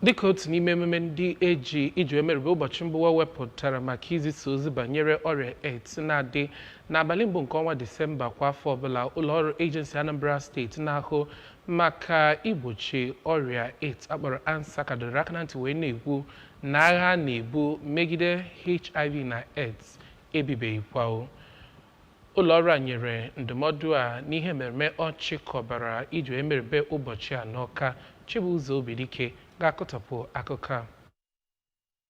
dịka otu n'ime emume ndị eji iji emerube ụbọchị mba ụwa wepụtara maka izisa ozi banyere ọrịa AIDS na-adị n'abalị mbụ nke ọnwa Disemba kwa afọ ọbụla ụlọọrụ Agency Anambra steeti na-ahụ maka igbochi ọrịa AIDS akpọrọ ANSACA dọrọ aka na ntị wee na-ekwu na agha a na-ebu megide HIV na AIDS ebibeghịkwa o Ụlọ ọrụ a nyere ndụmọdụ a n'ihe mmemme ọ chịkọbara iji emerube ụbọchị a n'Ọka. Chibuzo Obidike ga-akọtọpụ akụkọ a.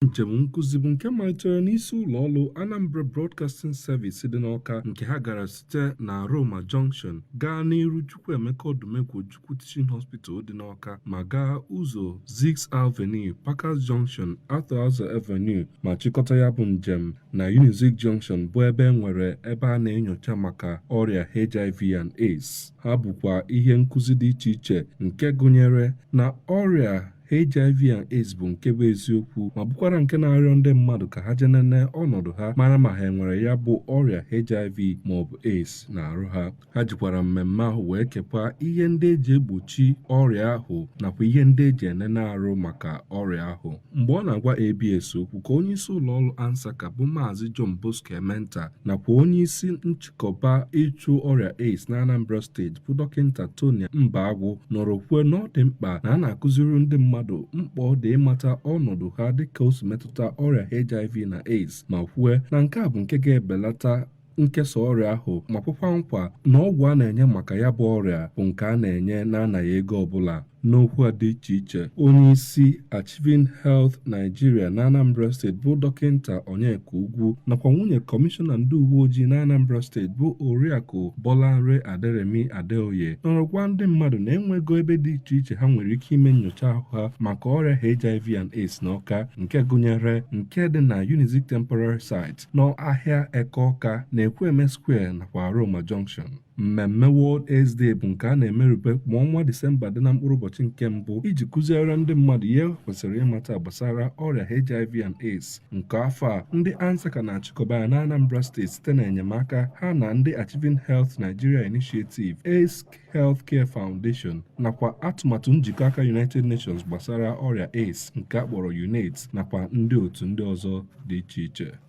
Njem nkụzi bụ nke malitere n'isi ụlọ ọrụ Anambra Broadcasting Service dị n'Ọka nke ha gara site na Aroma Junction gaa n'iru Chukwuemeka Odumegwu Ojukwu Teaching Hospital dị n'Awka ma gaa ụzọ Ziks Avenue, Parkers Junction, Arthur Eze Avenue ma chịkọta ya bụ njem na Unizik Junction bụ ebe e nwere ebe a na-enyocha maka ọrịa HIV and AIDS. Ha bukwa ihe nkụzi dị iche iche nke gụnyere na ọrịa HIV and AIDS bụ nke bụ eziokwu ma bukwara nke na-arịọ ndị mmadụ ka ha je nene ọnọdụ ha mara ma ha enwere ya bụ ọrịa HIV ma ọ bụ AIDS n'arụ ha ha jikwara mmemme ahụ wee kekwa ihe ndị eji egbochi ọrịa ahụ nakwa ihe ndị eji enene arụ maka ọrịa ahụ mgbe ọ na-agwa ABS okwu ka onye isi ụlọ ọrụ ANSACA bụ Maazị John Bosco Ementa nakwa onye isi nchị kọba ịchụ ọrịa AIDS na Anambra steeti bụ dọkịta Tonia Mbagwụ nọrọ kwuo na ọ dị mkpa na a na-akụziri ndị mmadụ mkpa ọ dị ịmata ọnọdụ ha dịka o si metụta ọrịa HIV na AIDS ma kwue na nke a bụ nke ga-ebelata nkesa ọrịa ahụ ma kwekwa nkwa na ọgwụ a na-enye maka ya bụ ọrịa bụ nke a na-enye na-anaghị ego ọbụla N'okwu ha dị iche iche, onye isi Achieving Health Nigeria na Anambra steeti bụ dọkịta Onyeka Ugwu nakwa nwunye kọmishọna ndị uwe ojii na Anambra steeti bụ Oriakụ Bolanre Aderemi Adeoye nọrọ gwa ndị mmadụ na enwego ebe dị iche iche ha nwere ike ime nyocha ahụ ha maka ọrịa HIV and AIDS n'Ọka nke gụnyere nke dị na Unizik Temporary Site n'ahịa Eke Ọka na Ekwueme Square nakwa Aroma Junction. Mmemme World AIDS Day bụ nke a na-emerube ma ọnwa Disemba dị na mkpụrụ ụbọchị nke mbụ iji kụziere ndị mmadụ ihe ha kwesịrị ịmata gbasara ọrịa HIV and AIDS nke afọ a ndị ANSACA na-achịkọba ya na Anambra steeti site na enyemaka ha na ndị Achieving Health Nigeria Initiative AIDS Healthcare Foundation nakwa atụmatụ njikọ aka United Nations gbasara ọrịa AIDS nke a kpọrọ UNAIDS nakwa ndị otu ndị ọzọ dị iche iche